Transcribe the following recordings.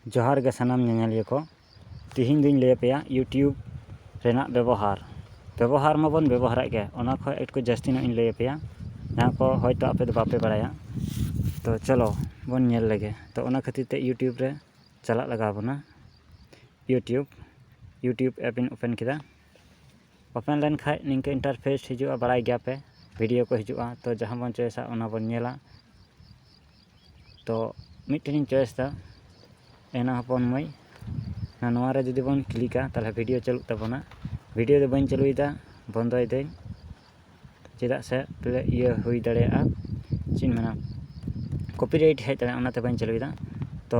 ᱡᱚᱦᱟᱨ ᱜᱮ ᱥᱟᱱᱟᱢ ᱧᱮᱧᱮᱞᱤᱭᱟᱹ ᱠᱚ ᱛᱤᱦᱤᱧ ᱫᱚᱧ ᱞᱟᱹᱭ ᱟᱯᱮᱭᱟ ᱤᱭᱩᱴᱤᱭᱩᱵᱽ ᱨᱮᱱᱟᱜ ᱵᱮᱵᱚᱦᱟᱨ ᱵᱮᱵᱚᱦᱟᱨ ᱢᱟᱵᱚᱱ ᱵᱮᱵᱚᱦᱟᱨᱮᱫ ᱜᱮ ᱚᱱᱟ ᱠᱷᱚᱱ ᱮᱠᱴᱩ ᱡᱟᱹᱥᱛᱤ ᱧᱚᱜ ᱤᱧ ᱞᱟᱹᱭ ᱟᱯᱮᱭᱟ ᱡᱟᱦᱟᱸ ᱠᱚ ᱦᱚᱭᱛᱳ ᱟᱯᱮ ᱫᱚ ᱵᱟᱯᱮ ᱵᱟᱲᱟᱭᱟ ᱛᱚ ᱪᱚᱞᱚ ᱵᱚᱱ ᱧᱮᱞ ᱞᱮᱜᱮ ᱛᱚ ᱚᱱᱟ ᱠᱷᱟᱹᱛᱤᱨ ᱛᱮ ᱤᱭᱩᱴᱤᱭᱩᱵᱽ ᱨᱮ ᱪᱟᱞᱟᱜ ᱞᱟᱜᱟᱣ ᱵᱚᱱᱟ ᱤᱭᱩᱴᱤᱭᱩᱵᱽ ᱤᱭᱩᱴᱤᱭᱩᱵᱽ ᱮᱯ ᱤᱧ ᱳᱯᱮᱱ ᱠᱮᱫᱟ ᱳᱯᱮᱱ ᱞᱮᱱᱠᱷᱟᱱ ᱱᱤᱝᱠᱟᱹ ᱤᱱᱴᱟᱨᱯᱷᱮᱥ ᱦᱤᱡᱩᱜᱼᱟ ᱵᱟᱲᱟᱭ ᱜᱮᱭᱟᱯᱮ ᱵᱷᱤᱰᱤᱭᱳ ᱠᱚ ᱦᱤᱡᱩᱜᱼᱟ ᱛᱚ ᱡᱟᱦᱟᱸ ᱵᱚᱱ ᱪᱚᱭᱮᱥᱟ ᱚᱱᱟ ᱵᱚᱱ ᱧᱮᱞᱟ ᱛᱚ ᱢᱤᱫᱴᱮᱱ ᱤᱧ ᱪᱚᱭᱮᱥ ᱮᱫᱟ ᱮᱱᱟ ᱦᱚᱯᱚᱱ ᱢᱟᱹᱭ ᱱᱚᱣᱟ ᱨᱮ ᱡᱩᱫᱤ ᱵᱚᱱ ᱠᱞᱤᱠᱟ ᱛᱟᱦᱚᱞᱮ ᱵᱷᱤᱰᱭᱳ ᱪᱟᱹᱞᱩᱜ ᱛᱟᱵᱚᱱᱟ ᱵᱷᱤᱰᱭᱳ ᱫᱚ ᱵᱟᱹᱧ ᱪᱟᱹᱞᱩᱭᱮᱫᱟ ᱵᱚᱱᱫᱚᱭ ᱫᱟᱹᱧ ᱪᱮᱫᱟᱜ ᱥᱮ ᱯᱟᱞᱮ ᱤᱭᱟᱹ ᱦᱩᱭ ᱫᱟᱲᱮᱭᱟᱜᱼᱟ ᱪᱮᱫ ᱤᱧ ᱢᱮᱱᱟ ᱠᱚᱯᱤ ᱨᱟᱭᱤᱴ ᱦᱮᱡ ᱫᱟᱲᱮᱭᱟᱜᱼᱟ ᱚᱱᱟᱛᱮ ᱵᱟᱹᱧ ᱪᱟᱹᱞᱩᱭᱮᱫᱟ ᱛᱚ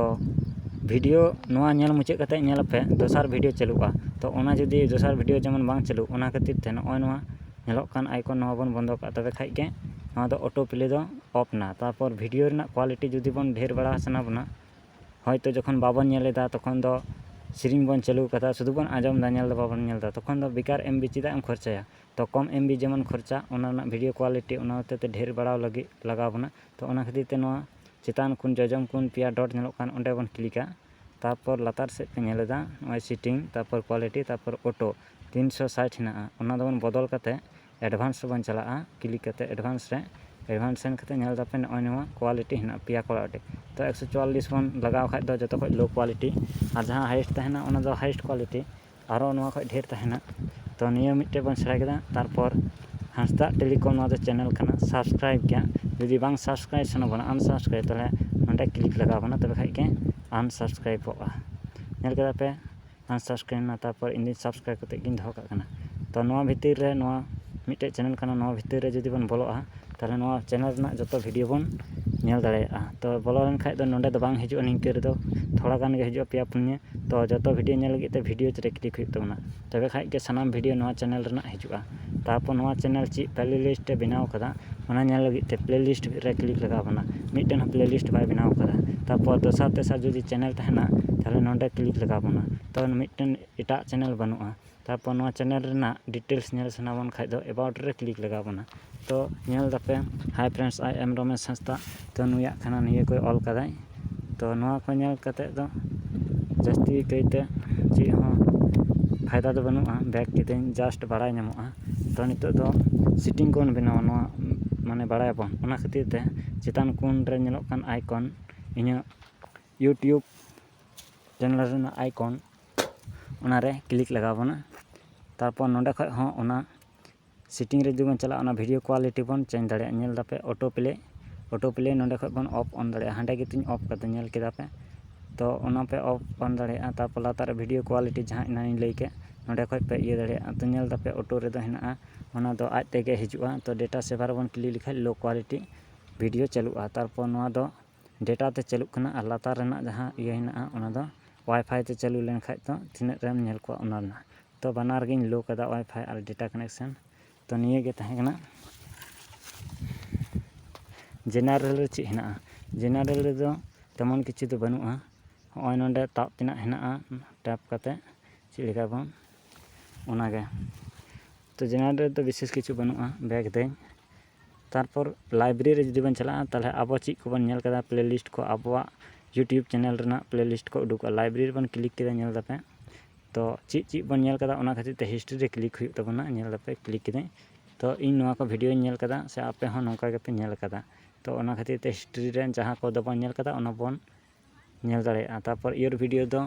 ᱵᱷᱤᱰᱭᱳ ᱱᱚᱣᱟ ᱧᱮᱞ ᱢᱩᱪᱟᱹᱫ ᱠᱟᱛᱮᱫ ᱧᱮᱞ ᱯᱮ ᱫᱚᱥᱟᱨ ᱵᱷᱤᱰᱭᱳ ᱪᱟᱹᱞᱩᱜᱼᱟ ᱛᱚ ᱚᱱᱟ ᱡᱩᱫᱤ ᱫᱚᱥᱟᱨ ᱵᱷᱤᱰᱭᱳ ᱡᱮᱢᱚᱱ ᱵᱟᱝ ᱪᱟᱹᱞᱩᱜ ᱚᱱᱟ ᱠᱷᱟᱹᱛᱤᱨ ᱛᱮ ᱱᱚᱜᱼᱚᱭ ᱱᱚᱣᱟ ᱧᱮᱞᱚᱜ ᱠᱟᱱ ᱟᱭᱠᱚᱱ ᱱᱚᱣᱟ ᱵᱚᱱ ᱵᱚᱱᱫᱚ ᱠᱟᱜᱼᱟ ᱛᱚᱵᱮ ᱠᱷᱟᱱ ᱜᱮ ᱱᱚᱣᱟ ᱫᱚ ᱚᱴᱳ ᱯᱞᱮ ᱫᱚ ᱚᱯᱷ ᱮᱱᱟ ᱛᱟᱨᱯᱚᱨ ᱵᱷᱤᱰᱭᱳ ᱨᱮᱱᱟᱜ ᱠᱳᱣᱟᱞᱤᱴᱤ ᱡᱩᱫᱤ ᱵᱚᱱ ᱰᱷᱮᱨ ᱵᱟᱲᱟ ᱥᱟᱱᱟ ᱵᱚᱱᱟ ᱦᱚᱭᱛᱳ ᱡᱚᱠᱷᱚᱱ ᱵᱟᱵᱚᱱ ᱧᱮᱞ ᱮᱫᱟ ᱛᱚᱠᱷᱚᱱ ᱫᱚ ᱥᱮᱨᱮᱧ ᱵᱚᱱ ᱪᱟᱹᱞᱩ ᱟᱠᱟᱫᱟ ᱥᱩᱫᱩ ᱵᱚᱱ ᱟᱸᱡᱚᱢ ᱮᱫᱟ ᱧᱮᱞ ᱫᱚ ᱵᱟᱵᱚᱱ ᱧᱮᱞ ᱮᱫᱟ ᱛᱚᱠᱷᱚᱱ ᱫᱚ ᱵᱮᱠᱟᱨ ᱮᱢ ᱵᱤ ᱪᱮᱫᱟᱜ ᱮᱢ ᱠᱷᱚᱨᱪᱟᱭᱟ ᱛᱳ ᱠᱚᱢ ᱮᱢ ᱵᱤ ᱡᱮᱢᱚᱱ ᱠᱷᱚᱨᱪᱟᱜ ᱚᱱᱟ ᱨᱮᱱᱟᱜ ᱵᱷᱤᱰᱭᱳ ᱠᱳᱣᱟᱞᱤᱴᱤ ᱚᱱᱟ ᱦᱚᱛᱮᱛᱮ ᱰᱷᱮᱨ ᱵᱟᱲᱟᱣ ᱞᱟᱹᱜᱤᱫ ᱞᱟᱜᱟᱣ ᱵᱚᱱᱟ ᱛᱳ ᱚᱱᱟ ᱠᱷᱟᱹᱛᱤᱨ ᱛᱮ ᱱᱚᱣᱟ ᱪᱮᱛᱟᱱ ᱠᱷᱚᱱ ᱡᱚᱡᱚᱢ ᱠᱷᱚᱱ ᱯᱮᱭᱟ ᱰᱚᱴ ᱧᱮᱞᱚᱜ ᱠᱟᱱ ᱚᱸᱰᱮ ᱵᱚᱱ ᱠᱞᱤᱠᱟ ᱛᱟᱨᱯᱚᱨ ᱞᱟᱛᱟᱨ ᱥᱮᱫ ᱯᱮ ᱧᱮᱞ ᱮᱫᱟ ᱱᱚᱜᱼᱚᱭ ᱥᱤᱴᱤᱝ ᱛᱟᱨᱯᱚᱨ ᱠᱚᱣᱟᱞᱤᱴᱤ ᱛᱟᱨᱯᱚᱨ ᱚᱴᱳ ᱛᱤᱱᱥᱚ ᱥᱟᱴ ᱦᱮᱱᱟᱜᱼᱟ ᱚᱱᱟ ᱫᱚᱵᱚᱱ ᱵᱚᱫᱚᱞ ᱠᱟᱛᱮᱫ ᱮᱰᱵᱷᱟᱱᱥ ᱨᱮᱵᱚᱱ ᱪᱟᱞᱟᱜᱼᱟ ᱠᱞᱤᱠ ᱠᱟᱛᱮᱫ ᱮᱰᱵᱷᱟᱱᱥ ᱨᱮ ᱮᱰᱵᱷᱟᱱᱥ ᱥᱮᱱ ᱠᱟᱛᱮᱫ ᱧᱮᱞ ᱮᱫᱟᱯᱮ ᱱᱚᱜᱼᱚᱭ ᱱᱚᱣᱟ ᱠᱚᱣᱟᱞᱤᱴᱤ ᱦᱮᱱᱟᱜᱼᱟ ᱯᱮᱭᱟ ᱠᱚᱣᱟᱞᱤᱴᱤ ᱛᱚ ᱮᱠᱥᱚ ᱪᱩᱣᱟᱞᱞᱤᱥ ᱵᱚᱱ ᱞᱟᱜᱟᱣ ᱠᱷᱟᱱ ᱫᱚ ᱡᱚᱛᱚ ᱠᱷᱚᱱ ᱞᱳ ᱠᱚᱣᱟᱞᱤᱴᱤ ᱟᱨ ᱡᱟᱦᱟᱸ ᱦᱟᱭᱮᱥᱴ ᱛᱟᱦᱮᱱᱟ ᱚᱱᱟ ᱫᱚ ᱦᱟᱭᱮᱥᱴ ᱠᱚᱣᱟᱞᱤᱴᱤ ᱟᱨᱚ ᱱᱚᱣᱟ ᱠᱷᱚᱡ ᱰᱷᱮᱨ ᱛᱟᱦᱮᱱᱟ ᱛᱚ ᱱᱤᱭᱟᱹ ᱢᱤᱫᱴᱮᱡ ᱵᱚᱱ ᱥᱮᱬᱟ ᱠᱮᱫᱟ ᱛᱟᱨᱯᱚᱨ ᱦᱟᱸᱥᱫᱟ ᱴᱮᱞᱤᱠᱚᱢ ᱱᱚᱣᱟ ᱫᱚ ᱪᱮᱱᱮᱞ ᱠᱟᱱᱟ ᱥᱟᱵᱥᱠᱨᱟᱭᱤᱵᱽ ᱜᱮᱭᱟ ᱡᱩᱫᱤ ᱵᱟᱝ ᱥᱟᱵᱥᱠᱨᱟᱭᱤᱵᱽ ᱥᱟᱱᱟ ᱵᱚᱱᱟ ᱟᱱᱥᱟᱵᱥᱠᱨᱟᱭᱤᱵᱽ ᱛᱟᱦᱚᱞᱮ ᱱᱚᱰᱮ ᱠᱞᱤᱠ ᱞᱟᱜᱟᱣ ᱵᱚᱱᱟ ᱛᱚᱵᱮ ᱠᱷᱟᱡ ᱜᱮ ᱟᱱᱥᱟᱵᱥᱠᱨᱟᱭᱤᱵᱚᱜᱼᱟ ᱧᱮᱞ ᱠᱮᱫᱟ ᱯᱮ ᱟᱱᱥᱟᱵᱥᱠᱨᱟᱭᱤᱵᱽ ᱮᱱᱟ ᱛᱟᱨᱯᱚᱨ ᱤᱧ ᱫᱚ ᱥᱟᱵᱥᱠᱨᱟᱭᱤᱵᱽ ᱠᱟᱛᱮ ᱜᱮᱧ ᱫᱚᱦᱚ ᱠᱟᱜ ᱠᱟᱱᱟ ᱛᱚ ᱱᱚᱣᱟ ᱵᱷᱤᱛᱤᱨ ᱨᱮ ᱱᱚᱣᱟ ᱢᱤᱫᱴᱮᱡ ᱪᱮᱱᱮᱞ ᱠᱟᱱᱟ ᱱᱚᱣᱟ ᱵᱷᱤᱛᱤᱨ ᱨᱮ ᱡᱩᱫᱤ ᱵᱚᱱ ᱵᱚᱞᱚᱜᱼᱟ ᱛᱟᱦᱚᱞᱮ ᱱᱚᱣᱟ ᱪᱮᱱᱮᱞ ᱨᱮᱱᱟᱜ ᱡᱚᱛᱚ ᱵᱷᱤᱰᱭᱳ ᱵᱚᱱ ᱧᱮᱞ ᱫᱟᱲᱮᱭᱟᱜᱼᱟ ᱛᱚ ᱵᱚᱞᱚ ᱞᱮᱱᱠᱷᱟᱱ ᱫᱚ ᱱᱚᱰᱮ ᱫᱚ ᱵᱟᱝ ᱦᱤᱡᱩᱜᱼᱟ ᱱᱤᱝᱠᱟᱹ ᱨᱮᱫᱚ ᱛᱷᱚᱲᱟ ᱜᱟᱱ ᱜᱮ ᱦᱤᱡᱩᱜᱼᱟ ᱯᱮᱭᱟ ᱯᱩᱱᱭᱟᱹ ᱛᱚ ᱡᱚᱛᱚ ᱵᱷᱤᱰᱭᱳ ᱧᱮᱞ ᱞᱟᱹᱜᱤᱫ ᱛᱮ ᱵᱷᱤᱰᱭᱳ ᱨᱮ ᱠᱞᱤᱠ ᱦᱩᱭᱩᱜ ᱛᱟᱵᱚᱱᱟ ᱛᱚᱵᱮ ᱠᱷᱟᱱ ᱜᱮ ᱥᱟᱱᱟᱢ ᱵᱷᱤᱰᱭᱳ ᱱᱚᱣᱟ ᱪᱮᱱᱮᱞ ᱨᱮᱱᱟᱜ ᱦᱤᱡᱩᱜᱼᱟ ᱛᱟᱨᱯᱚᱨ ᱱᱚᱣᱟ ᱪᱮᱱᱮᱞ ᱪᱮᱫ ᱯᱞᱮ ᱞᱤᱥᱴ ᱮ ᱵᱮᱱᱟᱣ ᱟᱠᱟᱫᱟ ᱚᱱᱟ ᱧᱮᱞ ᱞᱟᱹᱜᱤᱫ ᱛᱮ ᱯᱞᱮ ᱞᱤᱥᱴ ᱨᱮ ᱠᱞᱤᱠ ᱞᱟᱜᱟᱣ ᱵᱚᱱᱟ ᱢᱤᱫᱴᱮᱱ ᱦᱚᱸ ᱯᱞᱮ ᱞᱤᱥᱴ ᱵᱟᱭ ᱵᱮᱱᱟᱣ ᱟᱠᱟᱫᱟ ᱛᱟᱨᱯᱚᱨ ᱫᱚᱥᱟᱨ ᱛᱮᱥᱟᱨ ᱡᱩᱫᱤ ᱪᱮᱱᱮᱞ ᱛᱟᱦᱮᱱᱟ ᱛᱟᱦᱚᱞᱮ ᱱᱚᱰᱮ ᱠᱞᱤᱠ ᱞᱟᱜᱟᱣ ᱵᱚᱱᱟ ᱛᱚ ᱢᱤᱫᱴᱮᱱ ᱮᱴᱟᱜ ᱪᱮᱱᱮᱞ ᱵᱟᱹᱱᱩᱜᱼᱟ ᱛᱟᱨᱯᱚᱨ ᱱᱚᱣᱟ ᱪᱮᱱᱮᱞ ᱨᱮᱱᱟᱜ ᱰᱤᱴᱮᱞᱥ ᱧᱮᱞ ᱥᱟᱱᱟ ᱵᱚᱱ ᱠᱷᱟᱱ ᱫᱚ ᱮᱵᱟᱣᱩᱴ ᱨᱮ ᱠᱞᱤᱠ ᱞᱟᱜᱟᱣ ᱵᱚᱱᱟ ᱛᱚ ᱧᱮᱞ ᱫᱟᱯᱮ ᱦᱟᱭ ᱯᱷᱨᱮᱱᱰᱥ ᱟᱭ ᱮᱢ ᱨᱚᱢᱮᱥ ᱦᱟᱸᱥᱫᱟ ᱛᱚ ᱱᱩᱭᱟᱜ ᱠᱟᱱᱟ ᱱᱤᱭᱟᱹ ᱠᱚᱭ ᱚᱞ ᱠᱟᱫᱟᱭ ᱛᱚ ᱱᱚᱣᱟ ᱠᱚ ᱧᱮᱞ ᱠᱟᱛᱮᱫ ᱫᱚ ᱡᱟᱹᱥᱛᱤ ᱠᱟᱭᱛᱮ ᱪᱮᱫ ᱦᱚᱸ ᱯᱷᱟᱭᱫᱟ ᱫᱚ ᱵᱟᱹᱱᱩᱜᱼᱟ ᱵᱮᱠ ᱠᱤᱫᱟᱹᱧ ᱡᱟᱥᱴ ᱵᱟᱲᱟᱭ ᱧᱟᱢᱚᱜᱼᱟ ᱛᱚ ᱱᱤᱛᱚᱜ ᱫᱚ ᱥᱤᱴᱤᱝ ᱠᱚᱵᱚᱱ ᱵᱮᱱᱟᱣᱟ ᱱᱚᱣᱟ ᱢᱟᱱᱮ ᱵᱟᱲᱟᱭᱟᱵᱚᱱ ᱚᱱᱟ ᱠᱷᱟᱹᱛᱤᱨ ᱛᱮ ᱪᱮᱛᱟᱱ ᱠᱚᱱ ᱨᱮ ᱧᱮᱞᱚᱜ ᱠᱟᱱ ᱟᱭᱠᱚᱱ ᱤᱧᱟᱹᱜ ᱤᱭᱩᱴᱩᱵᱽ ᱪᱮᱱᱮᱞ ᱨᱮᱱᱟᱜ ᱟᱭᱠᱚᱱ ᱚᱱᱟᱨᱮ ᱠᱞᱤᱠ ᱞᱟᱜᱟᱣ ᱵᱚᱱᱟ ᱛᱟᱨᱯᱚᱨ ᱱᱚᱰᱮ ᱠᱷᱚᱱ ᱦᱚᱸ ᱚᱱᱟ ᱥᱮᱴᱤᱝ ᱨᱮ ᱡᱩᱫᱤ ᱵᱚᱱ ᱪᱟᱞᱟᱜᱼᱟ ᱚᱱᱟ ᱵᱷᱤᱰᱭᱳ ᱠᱚᱣᱟᱞᱤᱴᱤ ᱵᱚᱱ ᱪᱮᱧᱡᱽ ᱫᱟᱲᱮᱭᱟᱜᱼᱟ ᱧᱮᱞ ᱮᱫᱟᱯᱮ ᱚᱴᱳ ᱯᱞᱮ ᱚᱴᱳ ᱯᱞᱮ ᱱᱚᱰᱮ ᱠᱷᱚᱱ ᱵᱚᱱ ᱚᱯᱷ ᱚᱱ ᱫᱟᱲᱮᱭᱟᱜᱼᱟ ᱦᱟᱸᱰᱮ ᱜᱮᱛᱤᱧ ᱚᱯᱷ ᱠᱟᱫᱟ ᱧᱮᱞ ᱠᱮᱫᱟ ᱯᱮ ᱛᱳ ᱚᱱᱟ ᱯᱮ ᱚᱯᱷ ᱚᱱ ᱫᱟᱲᱮᱭᱟᱜᱼᱟ ᱛᱟᱨᱯᱚᱨ ᱞᱟᱛᱟᱨ ᱨᱮ ᱵᱷᱤᱰᱭᱳ ᱠᱚᱣᱟᱞᱤᱴᱤ ᱡᱟᱦᱟᱸ ᱮᱱᱟᱝ ᱤᱧ ᱞᱟᱹᱭ ᱠᱮᱫ ᱱᱚᱰᱮ ᱠᱷᱚᱱ ᱯᱮ ᱤᱭᱟᱹ ᱫᱟᱲᱮᱭᱟᱜᱼᱟ ᱛᱳ ᱧᱮᱞ ᱮᱫᱟᱯᱮ ᱚᱴᱳ ᱨᱮᱫᱚ ᱦᱮᱱᱟᱜᱼᱟ ᱚᱱᱟ ᱫᱚ ᱟᱡ ᱛᱮᱜᱮ ᱦᱤᱡᱩᱜᱼᱟ ᱛᱳ ᱰᱮᱴᱟ ᱥᱮᱵᱷᱟᱨ ᱨᱮᱵᱚᱱ ᱠᱞᱤᱠ ᱞᱮᱠᱷᱟᱱ ᱞᱳ ᱠᱚᱣᱟᱞᱤᱴᱤ ᱵᱷᱤᱰᱭᱳ ᱪᱟᱹᱞᱩᱜᱼᱟ ᱛᱟᱨᱯᱚᱨ ᱱᱚᱣᱟ ᱫᱚ ᱰᱮᱴᱟ ᱛᱮ ᱪᱟᱹᱞᱩᱜ ᱠᱟᱱᱟ ᱟᱨ ᱞᱟᱛᱟᱨ ᱨᱮᱱᱟᱜ ᱡᱟᱦᱟᱸ ᱤᱭᱟᱹ ᱦᱮᱱᱟᱜᱼᱟ ᱚᱱᱟ ᱫᱚ ᱚᱣᱟᱭᱯᱷᱟᱭ ᱛᱮ ᱪᱟᱹᱞᱩ ᱞᱮᱱᱠᱷᱟᱱ ᱫᱚ ᱛᱤᱱᱟᱹᱜ ᱨᱮᱢ ᱧᱮᱞ ᱠᱚᱣᱟ ᱚᱱᱟ ᱨᱮᱱᱟᱜ ᱛᱚ ᱵᱟᱱᱟᱨ ᱜᱤᱧ ᱞᱳ ᱠᱟᱫᱟ ᱚᱣᱟᱭᱯᱷᱟᱭ ᱟᱨ ᱰᱮᱴᱟ ᱠᱟᱱᱮᱠᱥᱮᱱ ᱛᱚ ᱱᱤᱭᱟᱹ ᱜᱮ ᱛᱟᱦᱮᱸ ᱠᱟᱱᱟ ᱡᱮᱱᱟᱨᱮᱞ ᱨᱮ ᱪᱮᱫ ᱦᱮᱱᱟᱜᱼᱟ ᱡᱮᱱᱟᱨᱮᱞ ᱨᱮᱫᱚ ᱛᱮᱢᱚᱱ ᱠᱤᱪᱷᱩ ᱫᱚ ᱵᱟᱹᱱᱩᱜᱼᱟ ᱦᱚᱸᱜᱼᱚᱭ ᱱᱚᱰᱮ ᱛᱟᱵ ᱛᱮᱱᱟᱜ ᱦᱮᱱᱟᱜᱼᱟ ᱴᱮᱯ ᱠᱟᱛᱮ ᱪᱮᱫ ᱞᱮᱠᱟ ᱵᱚᱱ ᱚᱱᱟ ᱜᱮ ᱛᱚ ᱡᱮᱱᱟᱨᱮᱞ ᱨᱮᱫᱚ ᱵᱤᱥᱮᱥ ᱠᱤᱪᱷᱩ ᱵᱟᱹᱱᱩᱜᱼᱟ ᱵᱮᱠ ᱫᱟᱹᱧ ᱛᱟᱨᱯᱚᱨ ᱞᱟᱭᱵᱨᱮᱨᱤ ᱨᱮ ᱡᱩᱫᱤ ᱵᱚᱱ ᱪᱟᱞᱟᱜᱼᱟ ᱛᱟᱦᱚᱞᱮ ᱟᱵᱚ ᱪᱮᱫ ᱠᱚᱵᱚᱱ ᱧᱮᱞ ᱠᱟᱫᱟ ᱯᱞᱮ ᱞᱤᱥᱴ ᱠᱚ ᱟᱵᱚᱣᱟᱜ ᱤᱭᱩᱴᱩᱵᱽ ᱪᱮᱱᱮᱞ ᱨᱮᱱᱟᱜ ᱯᱞᱮ ᱞᱤᱥᱴ ᱠᱚ ᱩᱰᱩᱠᱚᱜᱼᱟ ᱞᱟᱭᱵᱨᱮᱨᱤ ᱨᱮᱵᱚᱱ ᱠᱞᱤᱠ ᱠᱮᱫᱟ ᱧᱮᱞ ᱫᱟᱯᱮ ᱛᱚ ᱪᱮᱫ ᱪᱮᱫ ᱵᱚᱱ ᱧᱮᱞ ᱠᱟᱫᱟ ᱚᱱᱟ ᱠᱷᱟᱹᱛᱤᱨ ᱛᱮ ᱦᱤᱥᱴᱨᱤ ᱨᱮ ᱠᱞᱤᱠ ᱦᱩᱭᱩᱜ ᱛᱟᱵᱚᱱᱟ ᱧᱮᱞ ᱫᱟᱯᱮ ᱠᱞᱤᱠ ᱠᱤᱫᱟᱹᱧ ᱛᱚ ᱤᱧ ᱱᱚᱣᱟ ᱠᱚ ᱵᱷᱤᱰᱭᱳᱧ ᱧᱮᱞ ᱠᱟᱫᱟ ᱥᱮ ᱟᱯᱮ ᱦᱚᱸ ᱱᱚᱝᱠᱟ ᱜᱮᱯᱮ ᱧᱮᱞ ᱠᱟᱫᱟ ᱛᱚ ᱚᱱᱟ ᱠᱷᱟᱹᱛᱤᱨ ᱛᱮ ᱦᱤᱥᱴᱨᱤ ᱨᱮ ᱡᱟᱦᱟᱸ ᱠᱚᱫᱚ ᱵᱚᱱ ᱧᱮᱞ ᱠᱟᱫᱟ ᱚᱱᱟ ᱵᱚᱱ ᱧᱮᱞ ᱫᱟᱲᱮᱭᱟᱜᱼᱟ ᱛᱟᱨᱯᱚᱨ ᱤᱭᱳᱨ ᱵᱷᱤᱰᱤᱭᱳ ᱫᱚ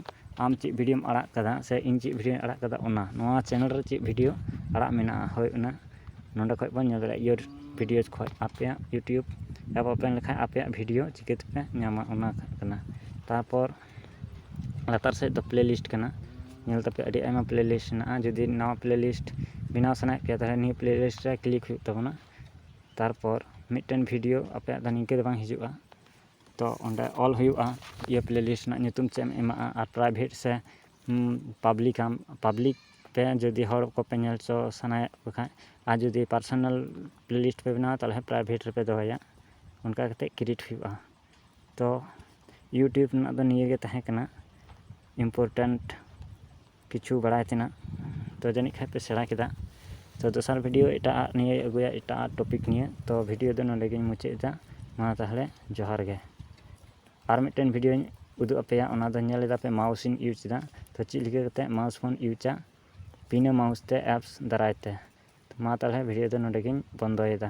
ᱟᱢ ᱪᱮᱫ ᱵᱷᱤᱰᱤᱭᱳᱢ ᱟᱲᱟᱜ ᱠᱟᱫᱟ ᱥᱮ ᱤᱧ ᱪᱮᱫ ᱵᱷᱤᱰᱤᱭᱳᱧ ᱟᱲᱟᱜ ᱠᱟᱫᱟ ᱚᱱᱟ ᱱᱚᱣᱟ ᱪᱮᱱᱮᱞ ᱨᱮ ᱪᱮᱫ ᱵᱷᱤᱰᱤᱭᱳ ᱟᱲᱟᱜ ᱢᱮᱱᱟᱜᱼᱟ ᱦᱳᱭ ᱚᱱᱟ ᱱᱚᱰᱮ ᱠᱷᱚᱡ ᱵᱚᱱ ᱧᱮᱞ ᱫᱟᱲᱮᱭᱟᱜᱼᱟ ᱤᱭᱳᱨ ᱵᱷᱤᱰᱤᱭᱳ ᱠᱷᱚᱡ ᱟᱯᱮᱭᱟᱜ ᱤᱭᱩᱴᱩᱵᱽ ᱮᱯ ᱳᱯᱮᱱ ᱞᱮᱠᱷᱟᱡ ᱟᱯᱮᱭᱟᱜ ᱵᱷᱤᱰᱤᱭᱳ ᱪᱤᱠᱟᱹ ᱛᱮᱯᱮ ᱧᱟᱢᱟ ᱚᱱᱟ ᱠᱟᱱᱟ ᱛᱟᱨᱯᱚᱨ ᱞᱟᱛᱟᱨ ᱥᱮᱫ ᱫᱚ ᱯᱞᱮ ᱞᱤᱥᱴ ᱠᱟᱱᱟ ᱧᱮᱞ ᱛᱟᱯᱮ ᱟᱹᱰᱤ ᱟᱭᱢᱟ ᱯᱞᱮ ᱞᱤᱥᱴ ᱢᱮᱱᱟᱜᱼᱟ ᱡᱩᱫᱤ ᱱᱟᱣᱟ ᱯᱞᱮ ᱞᱤᱥᱴ ᱵᱮᱱᱟᱣ ᱥᱟᱱᱟᱭᱮᱫ ᱯᱮᱭᱟ ᱛᱟᱦᱚᱞᱮ ᱱᱤᱭᱟᱹ ᱯᱞᱮ ᱞᱤᱥᱴ ᱨᱮ ᱠᱞᱤᱠ ᱦᱩᱭᱩᱜ ᱛᱟᱵᱚᱱᱟ ᱛᱟᱨᱯᱚᱨ ᱢᱤᱫᱴᱮᱱ ᱵᱷᱤᱰᱤᱭᱳ ᱟᱯᱮᱭᱟᱜ ᱫᱚ ᱱᱤᱝᱠᱟᱹ ᱫᱚ ᱵᱟᱝ ᱦᱤᱡᱩᱜᱼᱟ ᱛᱚ ᱚᱸᱰᱮ ᱚᱞ ᱦᱩᱭᱩᱜᱼᱟ ᱤᱭᱟᱹ ᱯᱞᱮ ᱞᱤᱥᱴ ᱨᱮᱱᱟᱜ ᱧᱩᱛᱩᱢ ᱪᱮᱫ ᱮᱢ ᱮᱢᱟᱜᱼᱟ ᱟᱨ ᱯᱨᱟᱭᱵᱷᱮᱴ ᱥᱮ ᱯᱟᱵᱽᱞᱤᱠ ᱟᱢ ᱯᱟᱵᱽᱞᱤᱠ ᱛᱮ ᱡᱩᱫᱤ ᱦᱚᱲ ᱠᱚᱯᱮ ᱧᱮᱞ ᱦᱚᱪᱚ ᱥᱟᱱᱟᱭᱮᱫ ᱠᱚ ᱠᱷᱟᱱ ᱟᱨ ᱡᱩᱫᱤ ᱯᱟᱨᱥᱳᱱᱟᱞ ᱯᱞᱮ ᱞᱤᱥᱴ ᱯᱮ ᱵᱮᱱᱟᱣᱟ ᱛᱟᱦᱚᱞᱮ ᱯᱨᱟᱭᱵᱷᱮᱴ ᱨᱮᱯᱮ ᱫᱚᱦᱚᱭᱟ ᱚᱱᱠᱟ ᱠᱟᱛᱮᱫ ᱠᱨᱤᱭᱮᱴ ᱦᱩᱭᱩᱜᱼᱟ ᱛᱚ ᱤᱭᱩᱴᱩᱵᱽ ᱨᱮᱱᱟᱜ ᱫᱚ ᱱᱤᱭᱟᱹᱜᱮ ᱛᱟᱦᱮᱸ ᱠᱟᱱᱟ ᱤᱢᱯᱳᱨᱴᱮᱱᱴ ᱠᱤᱪᱷᱩ ᱵᱟᱲᱟᱭ ᱛᱮᱱᱟᱜ ᱛᱚ ᱡᱟᱹᱱᱤᱡ ᱠᱷᱟᱱ ᱯᱮ ᱥᱮᱬᱟ ᱠᱮᱫᱟ ᱛᱚ ᱫᱚᱥᱟᱨ ᱵᱷᱤᱰᱭᱳ ᱮᱴᱟᱜ ᱟᱜ ᱱᱤᱭᱮᱧ ᱟᱹᱜᱩᱭᱟ ᱮᱴᱟᱜ ᱟᱜ ᱴᱚᱯᱤᱠ ᱱᱤᱭᱮ ᱛᱚ ᱵᱷᱤᱰᱭᱳ ᱫᱚ ᱱᱚᱰᱮ ᱜᱤᱧ ᱢᱩᱪᱟᱹᱫ ᱮᱫᱟ ᱢᱟ ᱛᱟᱦᱚᱞᱮ ᱡᱚᱦᱟᱨ ᱜᱮ ᱟᱨ ᱢᱤᱫᱴᱮᱱ ᱵᱷᱤᱰᱭᱳᱧ ᱩᱫᱩᱜ ᱟᱯᱮᱭᱟ ᱚᱱᱟ ᱫᱚ ᱧᱮᱞ ᱮᱫᱟ ᱯᱮ ᱢᱟᱣᱩᱥ ᱤᱧ ᱤᱭᱩᱡᱽ ᱮᱫᱟ ᱛᱚ ᱪᱮᱫ ᱞᱮᱠᱟ ᱠᱟᱛᱮᱫ ᱢᱟᱣᱩᱥ ᱵᱚᱱ ᱤᱭᱩᱡᱟ ᱵᱤᱱᱟᱹ ᱢᱟᱣᱩᱥ ᱛᱮ ᱮᱯᱥ ᱫᱟᱨᱟᱭ ᱛᱮ ᱢᱟ ᱛᱟᱦᱚᱞᱮ ᱵᱷᱤᱰᱭᱳ ᱫᱚ ᱱᱚᱰᱮ ᱜᱤᱧ ᱵᱚᱱᱫᱚᱭᱮᱫᱟ